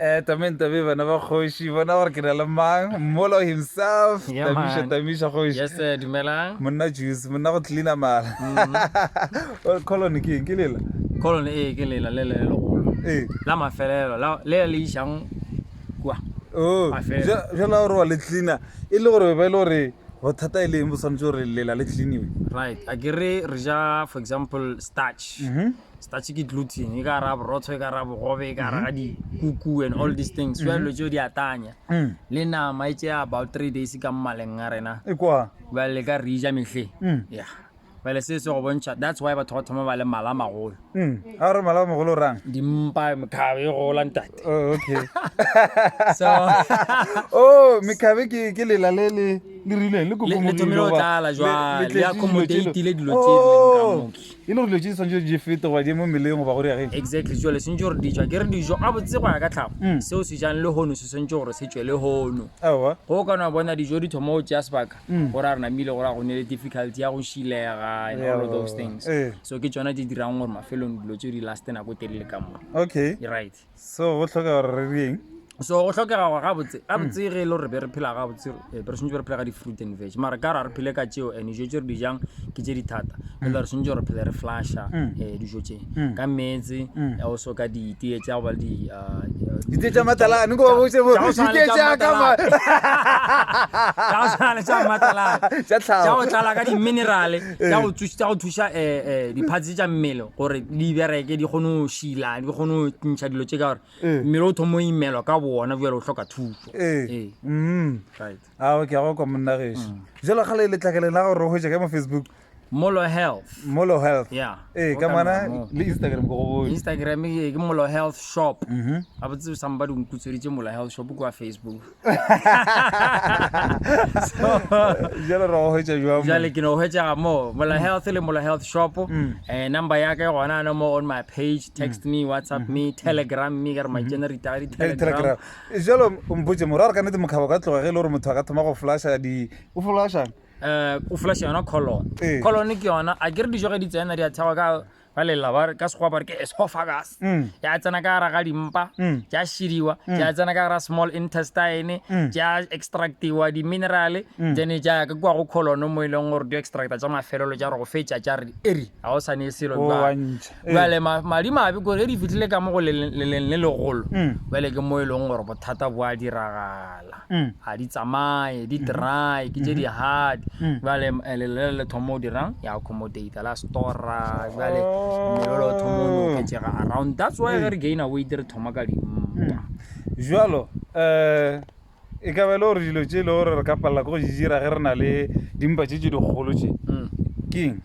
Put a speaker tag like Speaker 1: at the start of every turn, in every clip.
Speaker 1: Eh, tameng tabe bana ba kgoši bona gore ke na le mang mmolo himself yeah, tamisha tamisha
Speaker 2: kgoši yes, eh,
Speaker 1: dumelang
Speaker 2: monna juice monna
Speaker 1: go cleana mala mm. colony ke eng ke lela colony ee eh, ke
Speaker 2: lela le le legolo ee la mafelelo le le išang kua oh,
Speaker 1: jala
Speaker 2: gore wa le cleana
Speaker 1: e le gore ba e le gore bothata e leng bo tshwanetse gore lela le cleaniwe right a ke re
Speaker 2: re ja for example starch mm -hmm. starch ke gluten e ka ra borotho e ka ra bogobe e ka ra dikuku and all these things so dilo tseo di a tanya Mm. le nama e tšea about three days ka mmaleng a rena E kwa. bale le
Speaker 1: ka re ja
Speaker 2: mehle Mm. yeah bale se se go bontšha that's why batho ba thoma ba le mala a magolo Mm. A re mala
Speaker 1: mogolo rang. dimpa mekgabe
Speaker 2: e gola ntate Oh, okay. so
Speaker 1: oh, mekhabe ke ke lela le le le rileng le le le thomile go tlala
Speaker 2: jwale le accommodate-ile dilo tse di leng ka moki E le
Speaker 1: gore dilo
Speaker 2: tše di swanetše
Speaker 1: di fete goba di eme mmeleng goba go re ya ge. Exactly, jwale swanetše gore
Speaker 2: dijo, a ke re dijo gabotse go ya ka tlhago, seo se jang lehono se swanetše gore se tšwe lehono. Aowa. Ge o ka no
Speaker 1: bona dijo
Speaker 2: di thoma go tšea sebaka, go ra re namile go ra go nnile difficulty ya go šilega and all of those things. So ke tšona tše dirang gore mafelelong dilo tšeo di laste nako e telele ka mo. Okay. Right.
Speaker 1: so
Speaker 2: go tlhokega gore
Speaker 1: re dieng so go tlhokega gore
Speaker 2: gabotse gabotse ge e le gore be re phela gabotse eh, be re swantse re phela ka di-fruit and veg mara ka ra re phele ka tšeo and dijo tse re dijang ke tse di thata mm. ele re swantse re phele re flasha um dijo tse mm. ka metse o so ka ditee tsa go ba le di ah, ditee tsa
Speaker 1: matalane ko botse mo ditee tsa ka ma tsa go tshwana
Speaker 2: le tsa matalane tsa go
Speaker 1: tlala ka di-minerale
Speaker 2: tša go thuša tša go thuša eh, eh, diphatsi tša mmele gore di bereke di kgone go šila di kgone go ntšha dilo tše ka gore Eh. mmele o thoma o imelwa ka boona bjale o hloka thušo Ee. Ee, Mm. right. a o ke a go
Speaker 1: kwa monna geso jalo ga le letlakeleng la gore o hwetša ka mo facebook molo health
Speaker 2: molo health Yeah.
Speaker 1: ee ka Go mona kana
Speaker 2: mo.
Speaker 1: le instagram ko go bone instagram ke ke molo
Speaker 2: health shop Mhm. a botse somebody o nkutsweditše molo health shop kua facebook
Speaker 1: jalo ra hwetša jwang jale ke no hwetšega mo
Speaker 2: mola health le mola health shop um number ya ke gona no mo on my page text me whatsapp me telegram me ka re matšena re itaga Telegram. di-telegram jalo
Speaker 1: mpotse mora gore ka nete mokgabo ka tloga ge e le gore motho a ka thoma go flasha di o flasha um o flasha
Speaker 2: yona colon Ee. colon ke yona a ke re dijo ge di tsena di a thekgwa ka ba lela ba ka sekgowa ba re ke esophagus ya mm. tsena ka gara ga dimpa mm. ja šidiwa mm. ja tsena ka gara small intestine ja extractiwa di-minerale then ja ka kua go colono mo e leng gore di extracta tsa mafelelo ja gore go fetša ja re eri ga o sane e selo jale oh, madi mabe kore e di fitlhile ka mo go leleng le legolo jale ke mo e leng gore bothata bo a diragala lela ga di tsamaye di dry ke tše di hard jale eh, lelele le thoma o dirang ya accommodate la stora jale mmele le thoma o noketsega around that's why ge re gaina weight re thoma ka dimpa jalo
Speaker 1: um e ka ba e le gore dilo tše e le gore re ka palela ko go di dira ge re na le dimpa tše tše dikgolo tše keng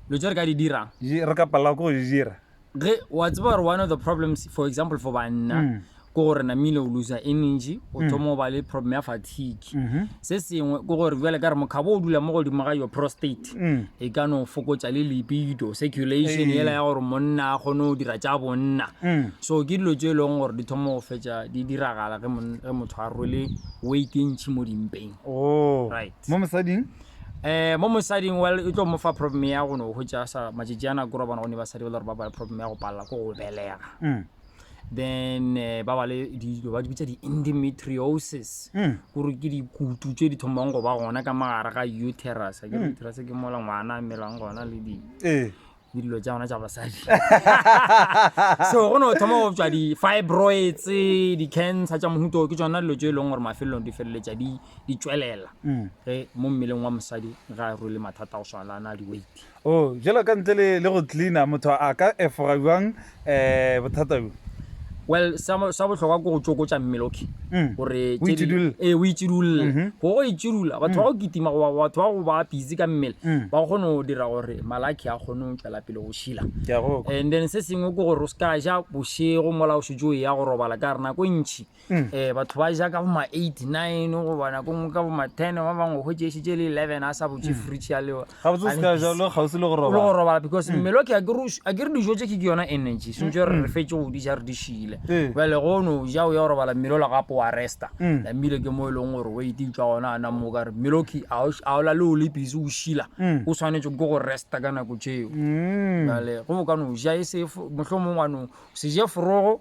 Speaker 1: dilo tse
Speaker 2: re ka di dirang Di- re ka palela ko go di
Speaker 1: dira ge wa tseba
Speaker 2: gore one of the problems for example for banna mm. ke gore namile o loser energy o mm. thoma o ba le problem ya fatigue mm-hmm. se sengwe ke gore bjale ka re mokgabo o dula mo godimo ga your prostate mm. e ka no fokotsa le lipido circulation ela ya gore monna a kgone go dira tša bonna so ke dilo tse e leng gore di thoma go fetsa di diragala ge motho a rwele weight e ntšhi mo dimpeng oh. right mo mosading
Speaker 1: Ee, mo
Speaker 2: mosading, well, e tlo mo fa problem ya go no hwetša sa matšatši a nako robana gonne basadi ba le gore ba bale problem ya go palela ko go belega. Then eh, ba bale dilo ba di bitsa di-endometriosis gore ke dikutu tše di thomang go ba gona ka magare ga uterus. Akere uterus ke mola ngwana a melang gona le di Ee. le dilo tša gona tša basadi so go no thoma go tswa di-fibroids di-cancer tša mohuto ke tsona dilo tse e leng gore mafelelong di feleletša di tswelela mm. ge mo mmeleng wa mosadi ga a rwele mathata go swana na di-weight o oh, jalo ka ntle
Speaker 1: le go cleana motho a ka efoga jwang eh bothata bjo Well, sa
Speaker 2: mo- sa bohlokwa ke go tsokotša mmele, okay? Mm. Gore O tše di- itšidulle. Ee, o
Speaker 1: itšidulle.
Speaker 2: Mhm. Go go itšidula, batho ba go kitima goba batho ba go ba busy ka mmele, Mm. ba kgone go dira gore malaki a kgone go tšwela pele go šila. ke a go kwa. And then se sengwe ke gore o se ka ja bošego mola o šetše o ya go robala ka gore nako e ntšhi um batho ba ja ka boma eight nine goba nako ngwe ka boma ten ba bangwe go tšešitše le eleven a sa botse mm. fridge ya lewa gorobala because mm. mmele o ke a ke re dijo tse ke ke yona energy sentse gore re mm. fetse go di ja re di šile bale go no ja o ya gorobala mmele o la gape wa resta la mmele ke mo e leng gore o ete tswa gona a nang mo ka re mmele o ke a o la le o le busy o šila o tshwanetse ke go resta ka nako tseo bale go bo ka no ja e se motlho mongwe wa no se je forogo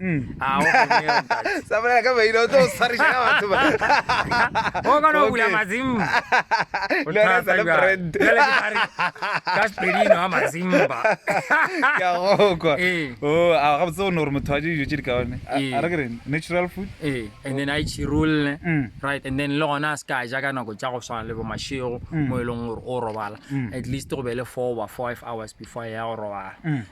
Speaker 2: Mm. Ah, o kgonne yona,
Speaker 1: ntate. sa bolela ka maina o tlo swariša ka batho ba o
Speaker 2: kgona go bula Okay. mazimba O Le yona e sa le thata bjang? brand. Bjale ke tla re, ka sepedi eno a mazimba ke a
Speaker 1: gokwa Ee. o a gabotse o ne gore motho a je dijo tse di kaone A- Ee. a re ke reng natural food ee and then a e
Speaker 2: tšhirolle Mm. right and then le gona a se ka ja ka nako tša go swana le bo mašego Mm. mo e leng gore o robala Mm. at least go be le four goba five hours before ya go robala Mm.